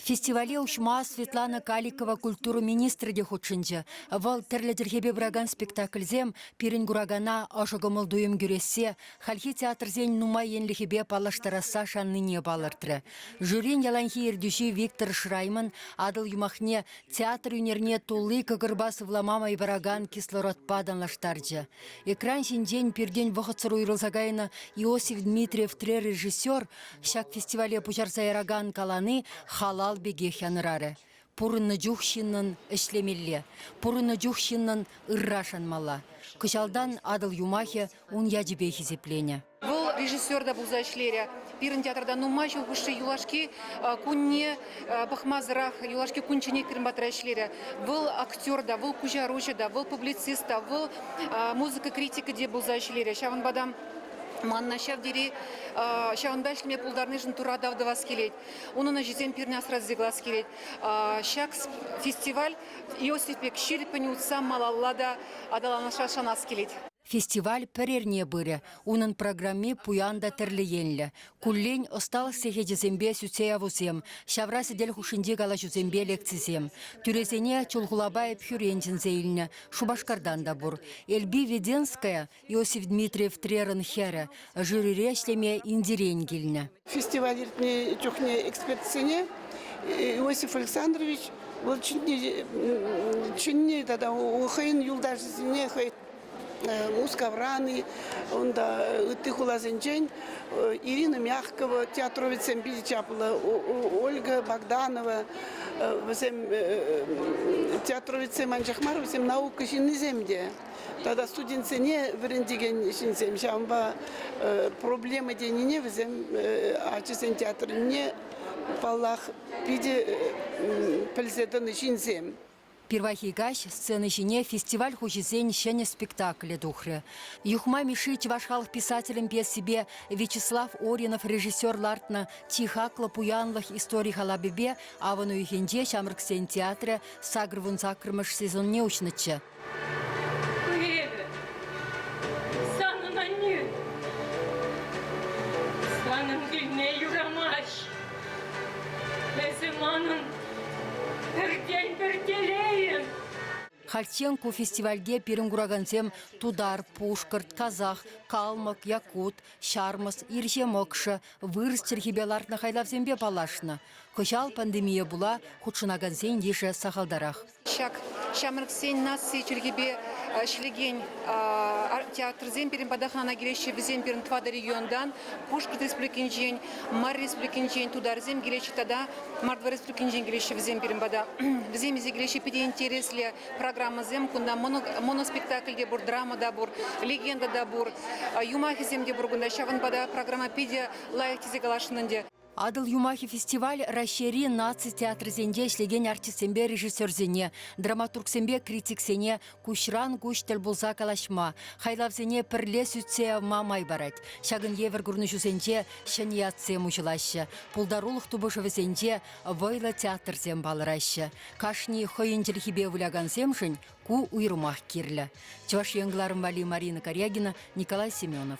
Фестивале уҫма Светлана Каликова культура министрӗ те хутшӑнчӗ. Вӑл тӗрлӗ чӗлхепе пыракан спектакльсем пирӗн куракана ӑшӑ кӑмӑл-туйӑм кӳрессе, хальхи театрсен нумай енлӗхӗпе паллаштарасса шаннине палӑртрӗ. Жюрин яланхи ертӳҫи Виктор Шрайман Атӑл юмахне театр ӳнерне тулли кӑкӑрпа сывлама май паракан кислородпа танлаштарчӗ. Экран ҫинчен пиртен вӑхӑтсӑр уйрӑлса кайнӑ Иосиф Дмитриев тӗррережиссер Ҫак фестивале пуҫарса яракан калани халал пекех янӑрарӗ. Пурӑннӑ чух ҫыннӑн ӗҫлемелле, пурӑннӑ чух ҫыннӑн ырра шанмалла. Кӑҫалтан Атӑл юмахӗ ун ячӗпе хисепленӗ. Вӑл режиссер та пулса ӗҫлерӗ. Пирӗн театрта нумай ҫул хушши юлашки кунне пӑхмасӑрах юлашки кунчченех пирӗн патра ӗҫлерӗ. Вӑл актер та, вӑл куҫаруҫӑ та, вӑл публицист та, вӑл музыка критикӗ те пулса ӗҫлерӗ. Ҫавӑнпа та Манна ҫав тери ҫавӑнпа ӗҫлеме пултарнишӗн Тура тав тӑвас килет. Унӑн ӗҫӗсем пирӗн асрасси класс килет. Ҫак фестиваль Иосиф пек ҫирӗппӗн утса малалла та аталанасса шанас килет. Фестиваль пӗр эрне пырӗ. Унӑн программи пуян та тӗрлӗ енлӗ. Куллен ӑсталӑх сехечӗсемпе сӳтсе явусем, ҫавра сӗтел хушшинчи калаҫусемпе лекцисем. Тӳресене Чулхулапа Ӗпхӳрен чӗнсе илнӗ, Шупашкартан та пур. Эльби Веденская Иосиф Дмитриев Трерӑн хӗрӗ. Жюрире ӗҫлеме Индирен килнӗ. Фестиваль иртнӗ чухне экспертсене Иосиф Александрович вӑл ҫӗнни тата хӑйӗн юлташӗсене хӑй Мускавран-и, унта ытти хуласенчен Ирина Мягкова театровецсем питӗ чаплӑ, Ольга Богданова, вӗсем театровецсем анчах мар, вӗсем наука ҫыннисем те. Тата студентсене вӗрентекен ҫынсем ҫавӑнпа проблема тенине вӗсем ачасен театрне паллах питӗ пӗлсе тӑнӑ ҫынсем. Пирвайхи каҫ сцена ҫине фестиваль хуҫисен ҫӗнӗ спектаклӗ тухрӗ. Юхма Мишши чӑваш халӑх писателӗн пьесипе Вячеслав Оринов режиссер лартнӑ чи хаклӑ пуянлӑх истори халапӗпе авӑн уйӑхӗнче ҫамрӑксен театрӗ сакӑр вун саккӑрмӗш сезонне уҫнӑччӗ. Эпӗ санӑн аннӳ. Санӑн килне юрамасть. Эсӗ манӑн пӗртен пӗр телейӗм. Хальччен ку фестивальте пирӗн куракансем тутар, пушкӑрт, казах, калмӑк, якут, ҫармӑс, ирҫе мӑкшӑ, вырӑс чӗлхипе лартнӑ хайлавсемпе паллашнӑ. Кӑҫал пандемие пула хутшӑнакансен йышӗ сахалтарах. Ҫак ҫамрӑксен наци чӗлхипе ӗҫлекен театрсем пирӗн пата хӑнана килеҫҫӗ. Вӗсем пирӗн тӑватӑ регионтан, Пушкӑрт Республикинчен, Марри Республикинчен, тутарсем килеҫҫӗ тата Мордва Республикинчен килеҫҫӗ вӗсем пирӗн пата. Вӗсем илсе килеҫҫӗ питӗ интереслӗ программӑсем. Кунта моноспектакль те пур, драма та пур, легенда та пур, юмахӗсем те пур кунта. Ҫавӑнпа та программа питӗ лайӑх тесе каласшӑн ӗнтӗ. Атӑл юмахӗ фестиваль Раҫҫейри наци театрӗсенче ӗҫлекен артистсемпе режиссерсене, драматургсемпе критиксене куҫран куҫ тӗл пулса калаҫма, хайлавсене пӗрле сӳтсе явма май парать. Ҫакӑн евӗр курнӑҫусенче ҫӗнӗ ятсем уҫӑлаҫҫӗ, пултарулӑх тупӑшӑвӗсенче вӑйлӑ театрсем палӑраҫҫӗ. Кашни хӑйӗн чӗлхипе вылякансемшӗн ку уйрӑмах кирлӗ. Чӑваш Ен кӑларӑм валли Марина Корягина, Николай Семенов.